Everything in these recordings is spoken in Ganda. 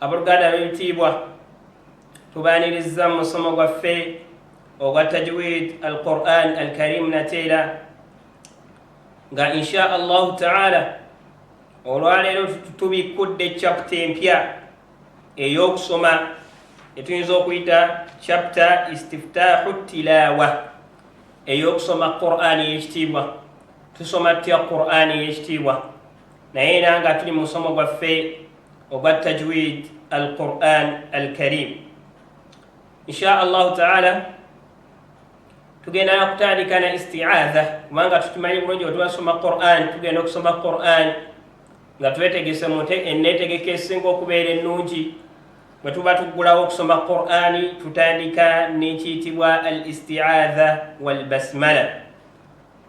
Abooluganda ab'ebitiibwa, tubaanirizza mu musomo gwaffe ogwa Tajwid al-Qur'an al-Karim nateera nga insha Allahu ta'ala olwaleero tubikkudde chapter empya ey'okusoma etuyinza okuyita chapter istiftahu tilawa ey'okusoma Qur'an ey'ekitiibwa tusoma tutya Qur'an ey'ekitiibwa naye era nga tuli mu musomo gwaffe ogwa tajwid al quran al karim insha allahu taala tugenda nakutandika na istiaadha kubanga tukimanyi bulungi wetubasoma quran tugenda okusoma quran nga twetegese mute enetegeka esinga okubeera ennungi bwe tuba tuggulawo okusoma qurani tutandika nekiyitibwa al istiaadha walbasmala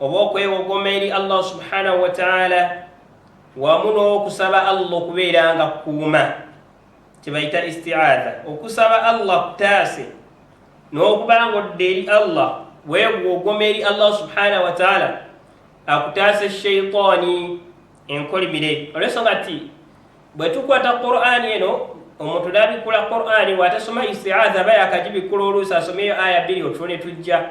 oba okwewogoma eri allah subhanahu wataala wamu n'okusaba allah okubeera nga kukuuma kyebayita istiaadha okusaba allah kutaase n'okuba nga odda eri allah wewogoma eri allah subhanahu wataala akutaase sheitaani enkolimire olwensonga ti bwe tukwata qur'ani eno omuntu nabikula qur'ani watasoma istiaadha aba yakagibikkula oluusi asomeyo aya bbiri otulo ne tujja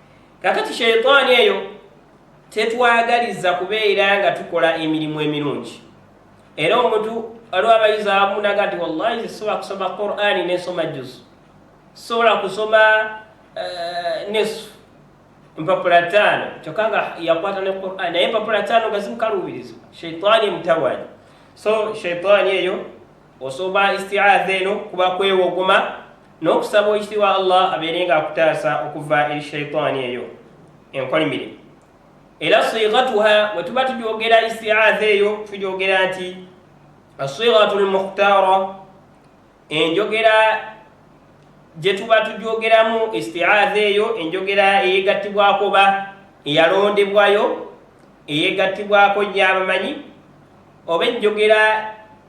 kakati sheitaani eyo tetwagaliza kubeera nga tukola emirimu emirungi era omuntu waliwo abayizi abamu naga nti wallahi sisobola kusoma qurani nensoma juzu sisobola kusoma eh, nesu empapula taano kyokka nga yakwata ne qurani naye empapula taano nga zimukaluubirizibwa sheitaani emutawaanya so sheitaani eyo Osoba isti'adha eno kuba kwewogoma n'okusaba ekitiibwa Allah abeere nga akutaasa okuva eri shaitaani eyo enkolimire. Era sighatuha bwe tuba tugyogera isti'adha eyo tugyogera nti asighatu lmukhtaara enjogera gye tuba tugyogeramu isti'adha eyo enjogera eyegattibwako oba eyalondebwayo eyegattibwako nnyo abamanyi oba enjogera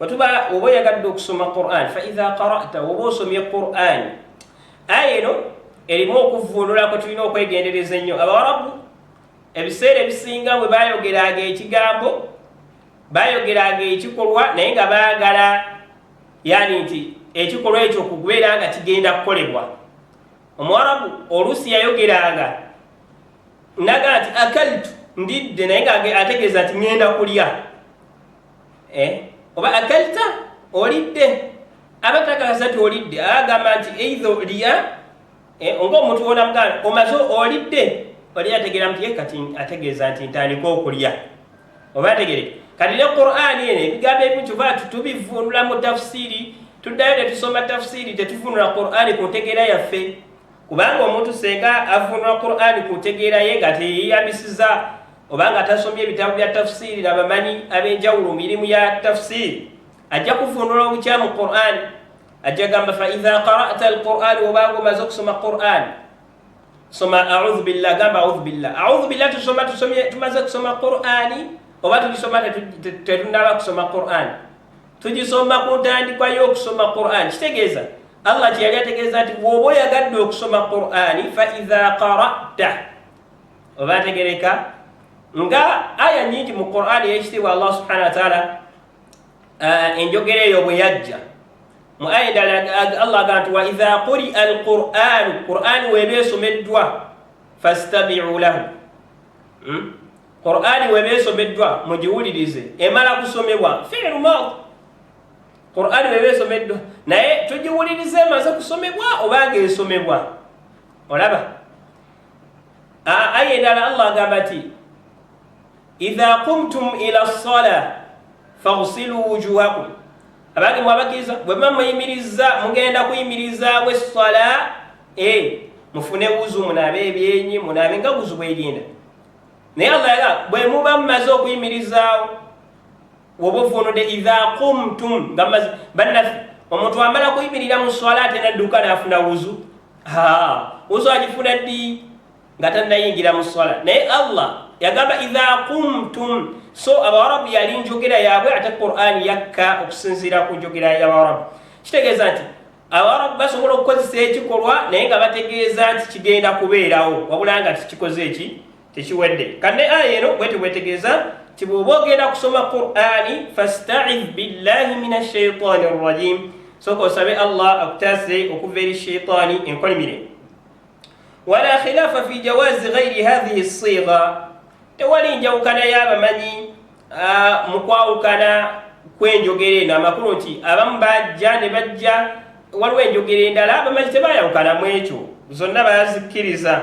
watuba oba oyagadde okusoma quran faidha qarata oba osomye quran aya eno erimu okuvvuunula kwe tulina okwegendereza ennyo abawarabu ebiseera ebisinga bwe bayogeranga ekigambo bayogeranga ekikolwa naye nga baagala yani nti ekikolwa ekyo kukubeera nga kigenda kukolebwa omuwarabu oluusi yayogeranga naga nti akaltu ndidde naye nga ategeeza nti ŋenda kulya eh? oba akalta olidde aba tagala sati olidde agamba nti eitha olya eh, nga omuntu wona muganda omaze olidde olya ategeera nti ye kati ategeeza nti ntandika okulya oba ategere kati ne qurani eno ebigambo ebimu kyova tubivunula mu tafusiri tuddayo tetusoma tafusiri tetuvunula qurani ku ntegeera yaffe kubanga omuntu senga avunula qurani ku ntegeera ye nga teyeyambisiza oba nga tasomye ebitabo bya tafsiiri na bamanyi ab'enjawulo mirimu ya tafsiiri ajja kuvundula obukyamu quran ajja gamba faidha qarata alquran obanga omaze okusoma quran soma audhu billah gamba audhu billah audhu billah tusoma tumaze kusoma qurani oba tugisoma tetunaba kusoma quran tugisoma ku ntandikwa y'okusoma quran kitegeeza allah kyeyali ategeeza nti woba oyagadde okusoma qurani faidha qarata oba ategereka nga aya nyingi mu qurani eyekitiibwa allah subhanahu wataala eh, enjogera eyo bwe yajja mu aya endala allah agamba nti waidha quria alquranu qurani weba esomeddwa fastabiu lahu hmm? qurani weba esomeddwa mugiwulirize emala kusomebwa fiilu maadi qurani weba esomeddwa naye tugiwulirize emaze kusomebwa oba nga esomebwa olaba aya endala allah agamba ti idha kumtum ila sala fagsilu wujuhakum abange mwabakiriza bwemuba muyimiriza mugenda kuyimirizawo essala e mufune wuzu munaabe ebyenyi munaabe nga wuzu bwerinda naye allah bwemuba mumaze okuyimirizaawo woba ovuunudde idha kumtum nga mazi bannaffe omuntu amala kuyimirira mu swala ate nadduka naafuna wuzu wuzu agifuna ddi nga tannayingira mu swala naye allah yagamba idha kumtum so abawarabu yali njogera yaabwe ate qurani yakka okusinziira ku njogera yabawarabu kitegeeza nti abawarabu basobola okukozesa ekikolwa naye nga bategeeza nti kigenda kubeerawo wabula nga tikikoze eki Tekiwedde. Kanne aya eno bwete bwetegeeza nti bw'oba ogenda kusoma Qur'ani fasta'idh billahi mina shaitani rrajim, sooka osabe Allah akutaase okuva eri shaitani enkolimire. Wala khilaafa fi jawaazi ghairi hadhihi ssigha, tewali njawukana y'abamanyi mu kwawukana kw'enjogera eno. Amakulu nti abamu bajja ne bajja, waliwo enjogera endala abamanyi tebayawukana mu ekyo, zonna bazikkiriza.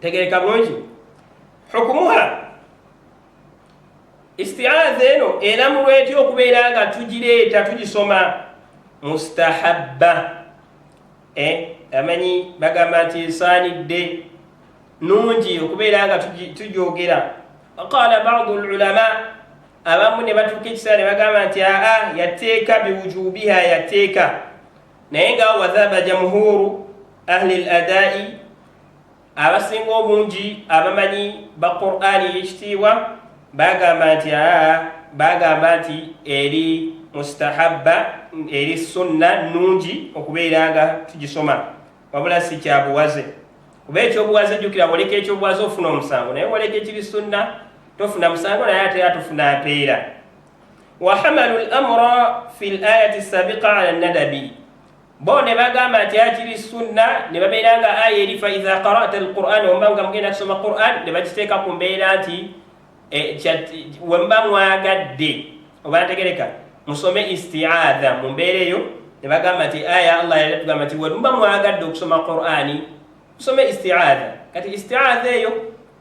tegereka bulungi hukumuha istiaza eno eramulwa etya okubeera nga tugireeta tugisoma mustahabba eh, amanyi bagamba nti esaanidde nungi okubeera nga tugyogera qala badu lulama abamu ne batuuka ekiseera ne bagamba nti aa yatteeka biwujubiha yatteeka naye nga wadhaba jamhuru ahli ladai abasinga obungi abamanyi ba qurani eyekitiibwa bagamba nti aa bagamba nti eri mustahabba eri sunna nungi okubeera nga tugisoma wabula si kyabuwaze kuba ekyobuwaze jjukira woleka ekyobuwaze ofuna omusango naye woleka ekiri sunna tofuna musango naye ate atufuna mpeera wahamalu lamra fi layati sabiqa ala nadabi bo ne bagamba nti akiri sunna ne babeera nga aya eri faiza qarata alquran wemba nga mugenda kusoma quran ne bakiteeka ku mbeera nti eh, wemba mwagadde oba ntegereka musome istiaadha mu mbeera eyo ne bagamba nti aya allah yali tugamba nti wemba mwagadde okusoma qurani musome istiaadha kati istiaadha eyo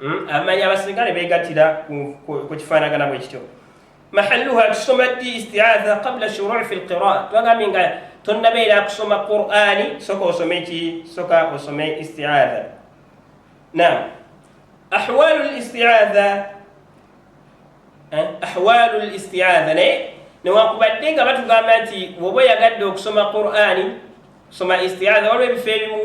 Hmm? amanyi abasirikale begatira ku kifaanagana bwe kityo mahalluha tusoma ddi istiatha qabla shurui fi lqiraa twagambye nga tonnabeera kusoma qurani soka osome ki soka osome istiatha nam ahwalu listiatha eh? ahwalu listiatha naye newakubadde nga batugamba nti woba oyagadde okusoma qurani soma istiatha waliwo ebifo ebimu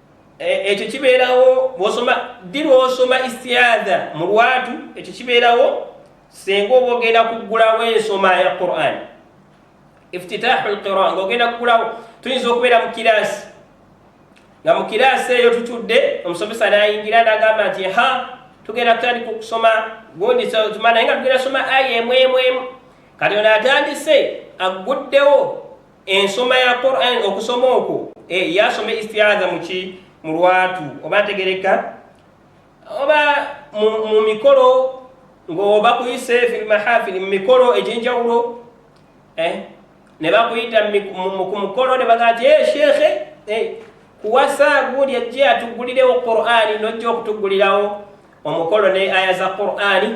E, ekyo kibeerawo bwosoma ddi lwosoma istiadha mu lwatu ekyo kibeerawo senga oba ogenda kuggulawo ensoma ya quran iftitahu lqira nga ogenda kuggulawo tuyinza okubeera mu kiraasi nga mu kiraasi eyo tutudde omusomesa nayingira nagamba nti ha tugenda kutandika okusoma gondisatuma naye nga tugenda soma aya emwemwemu kati ono atandise agguddewo ensoma ya Quran okusoma okwo eh, yasoma istiaza muki mu lwatu oba ntegereka oba mu mikolo ng'oba kuyise filmahafili mu mikolo egy'enjawulo eh, ne bakuyita ku mukolo ne bagaa ti eh, sheekhe eh, kuwasa gundi ajje atuggulirewo qur'ani nojja okutuggulirawo omukolo ne aya za qur'ani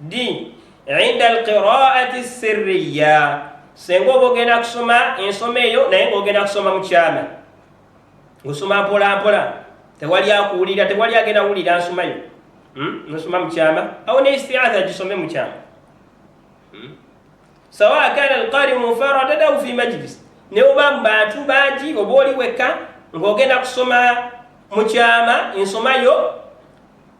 d inda alqiraati sirriya senga oba ogenda kusoma ensoma eyo naye ngaogenda kusoma mukyama osoma mpolampola tewali akuwulira tewali agenda wulira nsomayo hmm? nosoma mukyama awo ne istiatha gisome mukyama hmm? sawa kana alqari mufaradan au fi majlis ne oba mu bantu bangi oba oli wekka ngaogenda kusoma mukyama ensomayo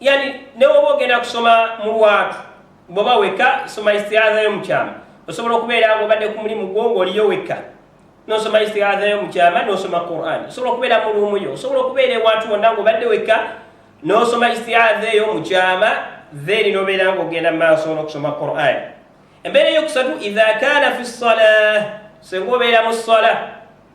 yani newoba ogenda kusoma mu lwatu bwoba wekka soma istiaza yo mukyama osobola okubeera nga obadde ku mulimu gwo ngaoliyo wekka nosoma istiaza yo mukyama nosoma quran osobola okubeera mu luumu yo osobola okubeera ewantu wonna nga obadde wekka nosoma istiaza eyo mukyama then nobeera nga ogenda mumaaso nokusoma quran embeera eyokusatu idha kana fi sala senga obeera mu sala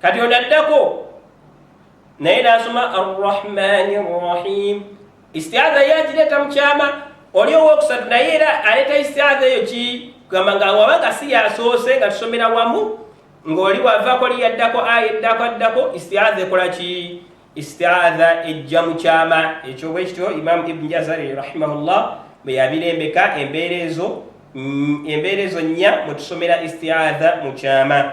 kati ono addako naye nasoma arrahmani rrahim istiaza ye agireeta mu kyama oli owokusatu naye era aleeta istiaza eyo ki kugamba nga waba nga si yasoose nga tusomera wamu ng'oli wavako li yaddako aya eddako addako istiaza ekola ki istiaza ejja mu kyama ekyo bwe kityo imamu ibni jazari rahimahullah bwe yabirembeka embeera ezo mm, embeera ezo nnya mwe tusomera istiaza mu kyama